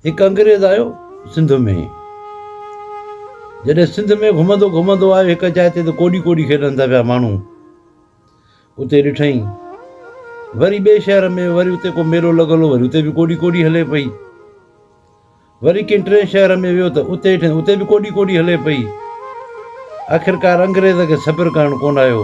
هڪ انگريز آيو سنڌ ۾. جڏهن سنڌ ۾ گهمندو گهمندو آيو هڪ جاء تي ته ڪوڏي ڪوڏي کيڏن ٿا پيا ماڻهو. اتي ڏٺئين. وري ٻئي شهر ۾ وري اتي ڪو ميلو لڳل هو وري اتي به ڪوڏي ڪوڏي هلي پئي. وري ڪنهن ٽئين شهر ۾ ويو ته اتي ڏٺئين اتي به ڪوڏي ڪوڏي هلي پئي. آخرڪار انگريز کي صبر ڪرڻ ڪونه آيو.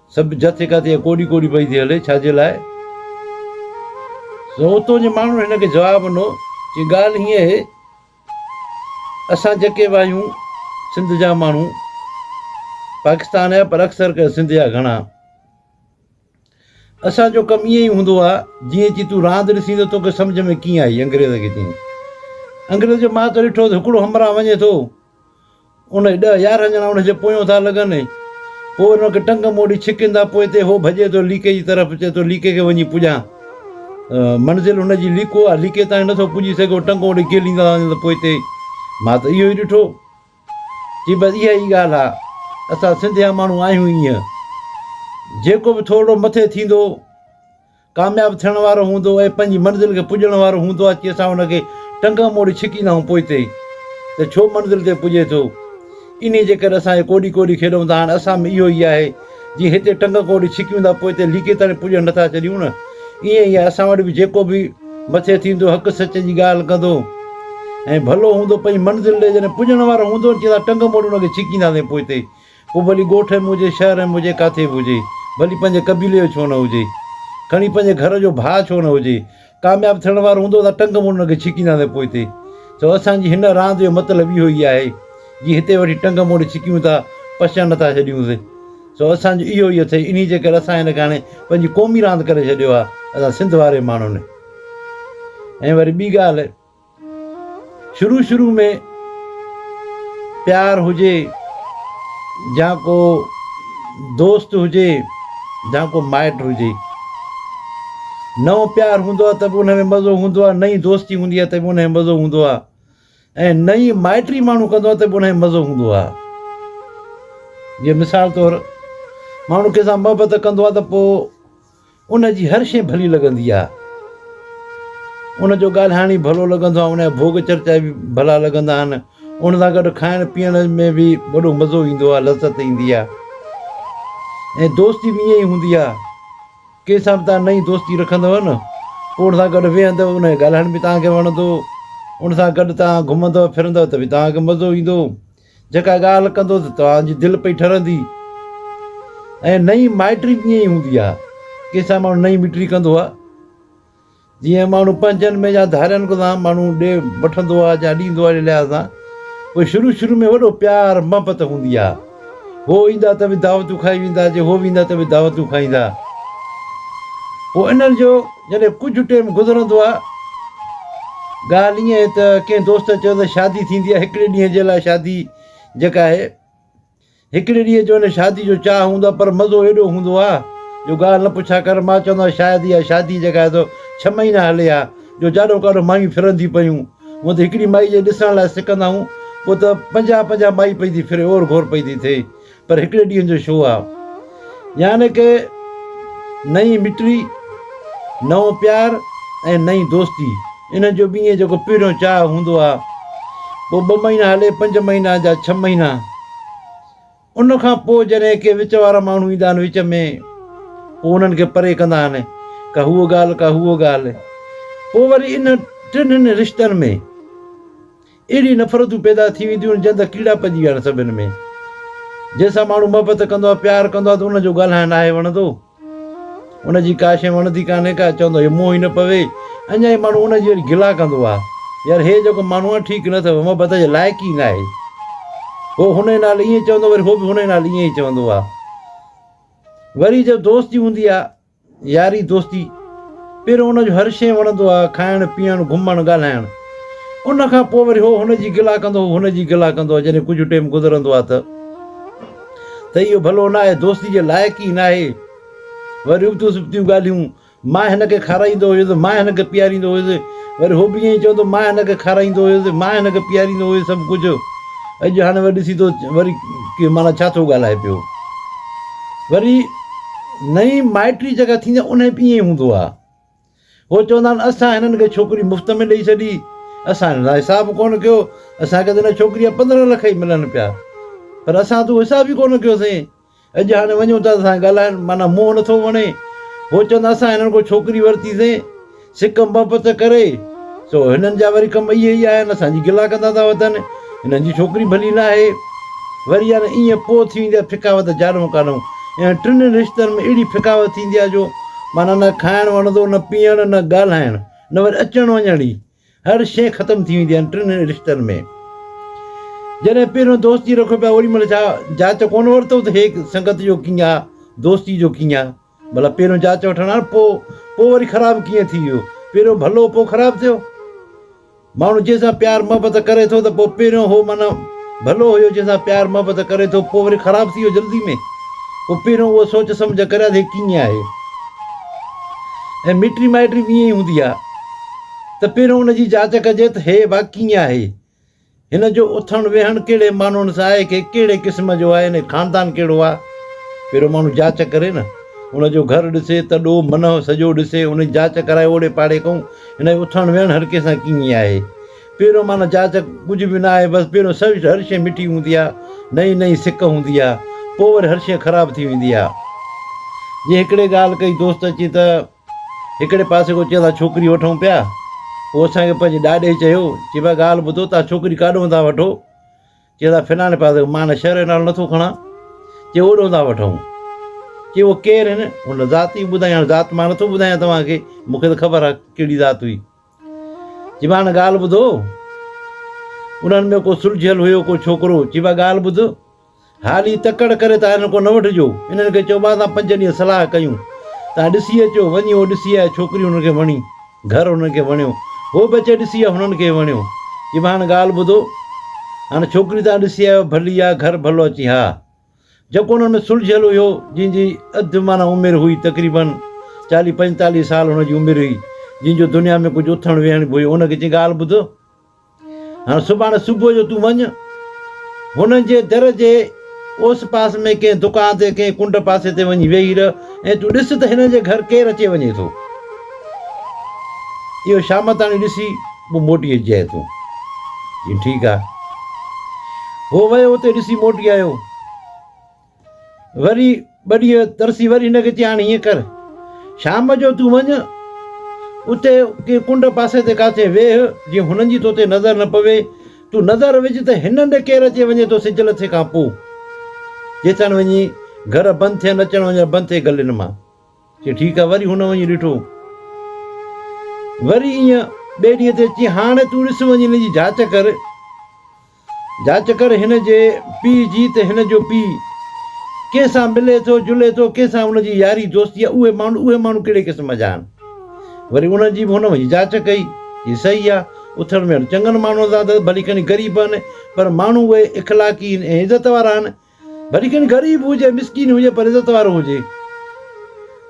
سڀ جٿي ڪاٿي ڪوڏي ڪوڏي پئي ٿي هلي، ڇا جي لاء؟ سو اتو جي ماڻهن هن کي جواب ڏنو، چي ڳالهه هيئن اهي، اسان جيڪي به آهيون سنڌ جا ماڻهو، پاڪستان جا پر اڪثر ڪري سنڌ جا گهڻا، اسان جو ڪم ايئن ئي هوندو آ، جيئن چي تون راند ڏسين ته توکي سمجهه ۾ ڪيئن آئي؟ انگريز کي چيائين، انگريز جو مان ته ڏٺو ته هڪڙو همراهه وڃي ٿو، ان ڏهه يارهن ڄڻا ان جي پويون ٿا لڳن ۽ پوء ان کي ٽنگ موڙي ڇڪين ٿا. پوء تي هو ڀڄي ٿو ليڪي جي طرف چئي ٿو ليڪي کي وڃي پڄان. منزل هن جي ليڪو آهي. ليڪي تائين نه ٿو پڄي سگهي. هو ٽنگ موڙي ڪيليندا ٿا وڃن ته پوء تي مان ته اهو ئي ڏٺو. چي بس اها ئي ڳالهه آهي. اسان سنڌيا ماڻهو آهيون ئي ايئن. جيڪو به ٿورڙو مٿي ٿيندو. ڪامياب ٿيڻ وارو هوندو ۽ پنهنجي منزل کي پڄڻ وارو هوندو اچي اسان ان کي ٽنگ موڙي ڇڪيندا آهيون پوئتي ته ڇو منزل تي پڄي ٿو انهي جي ڪري اسان کي ڪوڏي ڪوڏي کيڏون ٿا هاڻ اسان ۾ اهو ئي آهي جي هتي ٽنگ ڪوڙي ڇڪيون ٿا پوئتي ليڪي تائين پڄڻ نٿا چڏيون نه ائين ئي اسان وٽ به جيڪو به مٿي ٿيندو حق سچ جي ڳالهه ڪندو ۽ ڀلو هوندو پنهنجي منزل ڏي جڏهن پڄڻ وارو هوندو چي ٿا ٽنگ موڙي ان کي ڇڪيندا سين پوئتي پوء ڀلي ڳوٺ ۽ منهنجي شهر ۽ منهنجي ڪاٿي به هجي، ڀلي پنهنجي قبيلي جو ڇو نه هجي، کڻي پنهنجي گهر جو ڀاء ڇو نه هجي، ڪامياب ٿيڻ وارو هوندو ته ٽنگ موڙڻ کي ڇڪينداسين پوئتي. سو اسان جي هن راند جو مطلب اهو ئي آهي، جي هتي وٺي ٽنگ موڙي ڇڪيون ٿا، پشڻ نٿا ڇڏيون سي. سو اسان جو اهو ئي اٿئي، انهيء جي ڪري اسان هن کي هاڻي پنهنجي قومي راند ڪري ڇڏيو آهي، اسان سنڌ واري ماڻهن. ۽ وري ٻي ڳالهه. شروع شروع ۾ پيار هجي جا ڪو دوست هجي جا ڪو مائٽ هجي نئون پيار هوندو آهي ته به ان ۾ مزو هوندو آهي نئين دوستي هوندي آهي ته به ان ۾ مزو هوندو آهي ۽ نئين مائٽري ماڻهو ڪندو آهي ته به ان ۾ مزو هوندو آهي جي مثال طور ماڻهو ڪنهن سان محبت ڪندو آهي ته پوء ان جي هر شيء ڀلي لڳندي آهي. ان جو ڳالهائڻ ئي ڀلو لڳندو آهي. ان جا ڀوڳ چرچا به ڀلا لڳندا آهن. ان سان گڏ کائڻ پيئڻ ۾ به وڏو مزو ايندو آهي، لذت ايندي آهي. ۽ دوستي به ائين ئي هوندي آهي. ڪنهن سان به توهان نئين دوستي رکندؤ نه، پوء ان سان گڏ ويهندؤ، ان جو ڳالهائڻ به توهان کي وڻندو. ان سان گڏ توهان گهمندؤ ڦرندؤ ته به توهان کي مزو ايندو. جيڪا ڳالهه ڪندو ته توهان جي دل پئي ٺرندي ۽ نئين مائٽري به ائين ئي هوندي آهي ڪنهن سان ماڻهو نئين مٽري ڪندو آهي جيئن ماڻهو پنهنجن ۾ يا ڌارين سان ماڻهو ڏي وٺندو آهي يا ڏيندو آهي لحاظ سان پوء شروع شروع ۾ وڏو پيار محبت هوندي آهي هو ايندا ته به دعوتون کائي ويندا جي هو ويندا ته به دعوتون کائيندا پوء انهن جو جڏهن ڪجهه ٽيم گذرندو آهي ڳالهه ائين آهي ته ڪنهن دوست چيو ته شادي ٿيندي آهي هڪڙي ڏينهن جي لاء شادي جيڪا آهي هڪڙي ڏينهن جو ان شادي جو چاهه هوندو آهي پر مزو ايڏو هوندو آهي جو ڳالهه نه پڇا ڪر مان چوندو آهيان شايد اها شادي جيڪا آهي سو ڇهه مهينا هلي ها جو جاڏو ڪاڏو مايون ڦرن ٿي پيون هونء ته هڪڙي مائي جي ڏسڻ لاء سڪندا آهيون پوء ته پنجاهه پنجاهه مائي پئي ٿي ڦري اور گهور پئي ٿي ٿئي پر هڪڙي ڏينهن جو شو آ. يعني ڪه نئين مٽري، نئون پيار ۽ نئين دوستي. انهن جو به ائين جيڪو پهريون چاهه هوندو آ. پوء ٻه مهينا هلي، پنج مهينا جا ڇهه مهينا. ان کان پوء جڏهن ڪي وچ وارا ماڻهو ايندا آهن وچ ۾، پوء انهن کي پري ڪندا آهن. ڪا هوء ڳالهه، ڪا هوء ڳالهه. پوء وري انهن ٽنهن رشتن ۾. اهڙي نفرتون پيدا ٿي وينديون آهن جئن ته ڪيڙا پئجي ويا آهن سڀن ۾ جنهن سان ماڻهو محبت ڪندو آهي پيار ڪندو آهي ته ان جو ڳالهائڻ ناهي وڻندو ان جي ڪا شيء وڻندي ڪانهي ڪا چوندو اهي منهن ئي نه پوي اڃا ئي ماڻهو ان جي وري گلا ڪندو آهي يار هي جيڪو ماڻهو آهي ٺيڪ نه اٿو محبت جي لائق ئي ناهي هو هن ئي نال ائين چوندو وري هو به هن ئي نال ائين ئي چوندو آهي وري جو دوستي هوندي آهي ياري دوستي، پھريون ان جو ھر شيء وڻندو ھا، کائڻ پيئڻ، گھمڻ، ڳالھائڻ. ان کان پوء وري ھو ھن جي گلا ڪندو ھو ھن جي گلا ڪندو ھو جڏھن ڪجھ ٽيم گذرندو ھا تھ تھ اھو ڀلو ناھي دوستي جي لائق ئي ناھي. وري ابتيون سبتيون ڳالھيون، مان ھن کي کارائيندو ھيس، مان ھن کي پياريندو ھيس، وري ھو بھ ائين ئي چوندو مان ھن کي کارائيندو ھيس، مان ھن کي پياريندو ھيس سڀ ڪجھ. اڄ ھاڻي وري ڏسي تھ وري ڪير معنيٰ ڇا ٿو ڳالھائي پيو. وري. نئين مائٽري جيڪا ٿيندي آهي انهي به ائين ئي هوندو آهي. هو چوندا آهن اسان هنن کي ڇوڪري مفت ۾ ڏئي ڇڏي، اسان هنن سان حساب ڪونه ڪيو، اسان کي ته هن ڇوڪري جا پندرهن لک ئي ملن پيا پر اسان ته اهو حساب ئي ڪونه ڪيوسين. اڄ هاڻي وڃون ٿا ته اسان کي ڳالهائڻ معنيٰ منهن نٿو وڻي. هو چوندا اسان هنن کان ڇوڪري ورتي سين. سڪ محبت ڪري، سو هنن جا وري ڪم اهي ئي آهن، اسان جي گلا ڪندا ٿا وتن، هنن جي ڇوڪري ڀلي ناهي. وري يا نه ايئن پوء ٿي ويندي آهي ڦڪاوت جانو ڪانو. انهن ٽنهي رشتن ۾ اهڙي ڦڪاوت ٿيندي آهي جو معنيٰ نه کائڻ وڻندو، نه پيئڻ، نه ڳالهائڻ، نه وري اچڻ وڃڻ ئي. هر شيء ختم ٿي ويندي آهن ٽنهي رشتن ۾. جڏهن پهريون دوستي رکو پيا اوري مهل ڇا جاچ ڪونه ورتو ته هيء سنگت جو ڪيئن آ، دوستي جو ڪيئن آ. ڀلا پهريون جاچ وٺڻ هان پوء پوء وري خراب ڪيئن ٿي ويو؟ پهريون ڀلو پوء خراب ٿيو؟ ماڻهو جنهن سان پيار محبت ڪري ٿو ته پوء پهريون هو معنيٰ ڀلو هيو جنهن سان پيار محبت ڪري ٿو پوء وري خراب ٿي ويو جلدي ۾؟ پوء پهريون اهو سوچ سمجهه ڪريا ته هي ڪيئن آهي؟ ۽ مٽي مائٽي به ائين ئي هوندي آهي ته پهريون ان جي جاچ ڪجي ته هي ڀا ڪيئن آهي؟ هن جو اٿڻ ويهڻ ڪهڙي ماڻهن سان آهي ڪي ڪهڙي قسم جو آهي هن خاندان ڪهڙو آهي پهريون ماڻهو جاچ ڪري نه ان جو گهر ڏسي تڏو منهه سڄو ڏسي ان جي جاچ ڪرائي اوڙي پاڙي ڪئون هن جو اٿڻ ويهڻ هر ڪنهن سان ڪيئن آهي پهريون معنيٰ جاچ ڪجهه به نه آهي بس پهريون سوچ هر شيء مٺي هوندي آهي نئين نئين سڪ هوندي آهي پوء وري هر شيء خراب ٿي ويندي آهي جي هڪڙي ڳالهه ڪئي دوست اچي ته هڪڙي پاسي ڪو چيو ٿا ڇوڪري وٺون پيا پوء اسان کي پنهنجي ڏاڏي چيو چي ڀاء ڳالهه ٻڌو تان ڇوڪري ڪاڏون ٿا وٺو چيو ٿا فلاڻي پاسي مان هن شهر جو نالو نٿو کڻا چي اوڏون ٿا وٺون چي هو ڪير آهن ان ذات ئي ٻڌائي هاڻي ذات مان نٿو ٻڌايان توهان کي مون کي ته خبر آهي ڪهڙي ذات هئي چي مان هاڻي ڳالهه ٻڌو انهن ۾ ڪو سلجهيل هيو ڪو ڇوڪرو چي ڀاء ڳالهه ٻڌ هالي تڪڙ ڪري تان هنن کان نه وٺجو. هنن کي چئو، مان تان پنج ڏينهن صلاح ڪيون. تان ڏسي اچو. وڃي هو ڏسي آيا. ڇوڪري هنن کي وڻي. گهر هنن کي وڻيو. هو به اچي ڏسي آيو. هنن کي وڻيو. چي مان هاڻ ڳالهه ٻڌو. هاڻ ڇوڪري تان ڏسي آيو. ڀلي آ. گهر ڀلو آ. چي ها. جيڪو هنن ۾ سلجهيل هيو. جنهن جي اڌ معنيٰ عمر هئي. تقريباً چاليهه پنجتاليهه سال هن جي عمر هئي. جنهن جو دنيا ۾ ڪجهه اٿڻ ويهڻ به هيو. هن کي چي ڳالهه ٻڌ. هاڻ سڀاڻ صبح جو تون وڃ، هنن جي در جي اوس پاس ۾ ڪنهن دڪان تي ڪنهن ڪنڊ پاسي تي وڃي ويهي رهه ۽ تون ڏس ته هنن جي گهر ڪير اچي وڃي ٿو. اهو شام تاڻي ڏسي پوء موٽي اچجانء تون. چيائين، ٺيڪ آ. هو ويو اتي ڏسي موٽي آيو. وري ٻه ڏينهن ترسي وري هن کي چيائين هاڻي هيئن ڪر شام جو تون وڃ اتي ڪنهن ڪنڊ پاسي تي ڪاٿي ويهه جيئن هنن جي تو تي نظر نه پوي تون نظر وجهه ته هن هنڌ ڪير اچي وڃي ٿو سج لٿي کان پوء جيسان وڃي گهر بند ٿين اچڻ وڃڻ بند ٿئي گلين مان چي ٺيڪ آهي وري هن وڃي ڏٺو وري ايئن ٻئي ڏينهن تي چي هاڻي تون ڏس وڃي هن جي جاچ ڪر جاچ ڪر هن جي پيء جي ته هن جو پيء ڪنهن سان ملي ٿو، جلي ٿو، ڪنهن سان ان جي ياري دوستي آهي، اهي ماڻهو اهي ماڻهو ڪهڙي قسم جا آهن. وري انهن جي به هن وڃي جاچ ڪئي. هي صحيح آهي. اٿڻ ويهڻ چڱن ماڻهن سان اٿس، ڀلي کڻي غريب آهن، پر ماڻهو اهي اخلاقي آهن ۽ عزت وارا آهن. ڀلي کين غريب هجي مسڪين هجي پر عزت وارو هجي.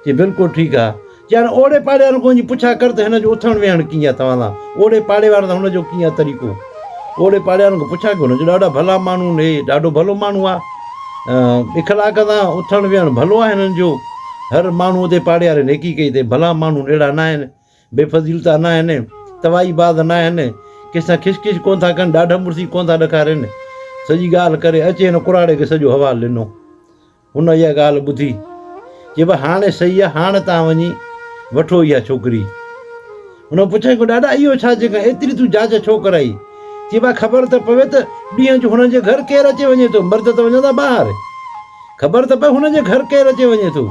چي بلڪل ٺيڪ آ. چيائين اوڙي پاڙي وارن کان وڃي پڇا ڪر ته هن جو اٿڻ ويهڻ ڪيئن آ توهان سان اوڙي پاڙي وارن سان هن جو ڪيئن آ طريقو. اوڙي پاڙي وارن کان پڇا ڪر هن جو ڏاڍا ڀلا ماڻهو آهن هي ڏاڍو ڀلو ماڻهو آ اخلاق سان اٿڻ ويهڻ ڀلو آ هنن جو هر ماڻهو اتي پاڙي واري نيڪي ڪئي اٿئي ڀلا ماڻهو اهڙا ناهن. بي فضيل ته ناهن، توائي باز ناهن، ڪنهن سان کش کش ڪونه ٿا ڪن، ڏاڍ مڙسي ڪونه ٿا ڏکارين. سڄي ڳالهه ڪري اچي هن ڪراڙي کي سڄو حوال ڏنو. هن اها ڳالهه ٻڌي. چي بس هاڻي سهي آهي، هاڻي تان وڃي وٺو اها ڇوڪري. هن پڇيائين ڪو ڏاڏا اهو ڇا جي کان ايتري تون جاچ ڇو ڪرائي؟ چي با خبر ته پوي ته ڏينهن جو هنن جي گهر ڪير اچي وڃي ٿو، مرد ته وڃندا ٻاهر. خبر ته پئي هن جي گهر ڪير اچي وڃي ٿو.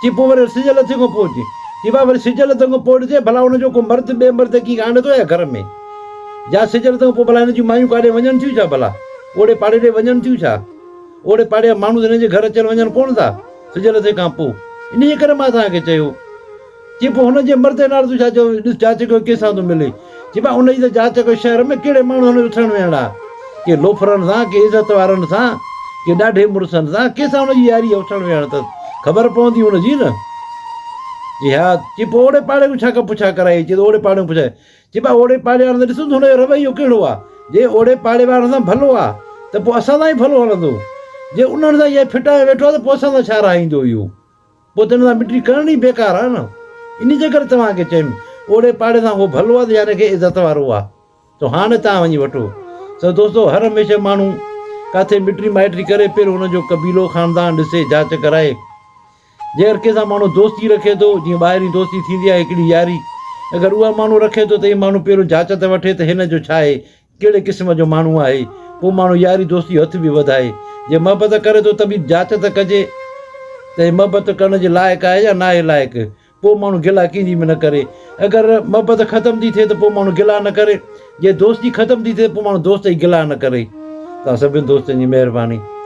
چي پوء وري سج لٿي کان پوء اچي. چي ڀاء وري سج لٿڻ کان پوء ڏسجي ڀلا هن جو ڪو مرد ٻئي مرد کي آڻي ٿو يا گهر ۾ جا سج لٿڻ کان پوء ڀلا هن جون مايون ڪاڏي وڃن ٿيون ڇا ڀلا اوڙي پاڙي ڏي وڃن ٿيون ڇا اوڙي پاڙي جا ماڻهو ته هن جي گهر اچن وڃن ڪونه ٿا سج لٿي کان پوء انهيء ڪري مان توهان کي چيو چي پوء هن جي مردي نال تون ڇا چيو هئين؟ ڏس جاچي ڪيو ڪنهن سان ٿو ملي. چي مان ان جي ته جاچ ڪيو شهر ۾ ڪهڙي ماڻهو هن جو ٿيڻ ويهڻ آ. ڪي لوفرن سان، ڪي عزت وارن سان، ڪي ڏاڍي مڙسن سان، ڪنهن سان هن جي ياري اٿڻ ويهڻ اٿس. خبر پوندي هن جي نه. چي ها. چي پوء اوڙي پاڙي کان ڇا پڇا ڪرائي هئين؟ چي ته اوڙي پاڙي کان پڇا. چي ڀا اوڙي پاڙي وارن سان ڏسون ته هن جو رويو ڪهڙو آ. جي اوڙي پاڙي وارن سان ڀلو آ ته پوء اسان سان ئي ڀلو هلندو. جي انهن سان ائين ڦٽائي ويٺو آ ته پوء اسان سان ڇا رهائيندو اهو. پوء تنهن سان مٽي ڪرڻ ئي بيڪار آهي نه. انهي جي ڪري توهان کي چيم، اوڙي پاڙي سان اهو ڀلو آهي ته ياري کي عزت وارو آهي، سو هاڻي توهان وڃي وٺو. سو دوستو، هر هميشه ماڻهو ڪاٿي مٽي مائٽي ڪري، پهريون ان جو قبيلو، خاندان ڏسي، جاچ ڪرائي. جيڪر ڪنهن سان ماڻهو دوستي رکي ٿو، جيئن ٻاهرين دوستي ٿيندي آهي هڪڙي ياري، اگر اها ماڻهو رکي ٿو ته اهي ماڻهو پهريون جاچ ته وٺي ته هن جو ڇا آهي، ڪهڙي قسم جو ماڻهو آهي ڪو ماڻهو ياري دوستي جو هٿ به وڌائي جي محبت ڪري ٿو ته ڀي جاچ ته ڪجي ته هي محبت ڪرڻ جي لائق آهي يا ناهي لائق ڪو ماڻهو گلا ڪنهن جي به نه ڪري اگر محبت ختم ٿي ٿئي ته پو ماڻهو گلا نه ڪري جي دوستي ختم ٿي ٿئي ته پو ماڻهو دوست جي گلا نه ڪري توهان سڀني دوستن جي مهرباني.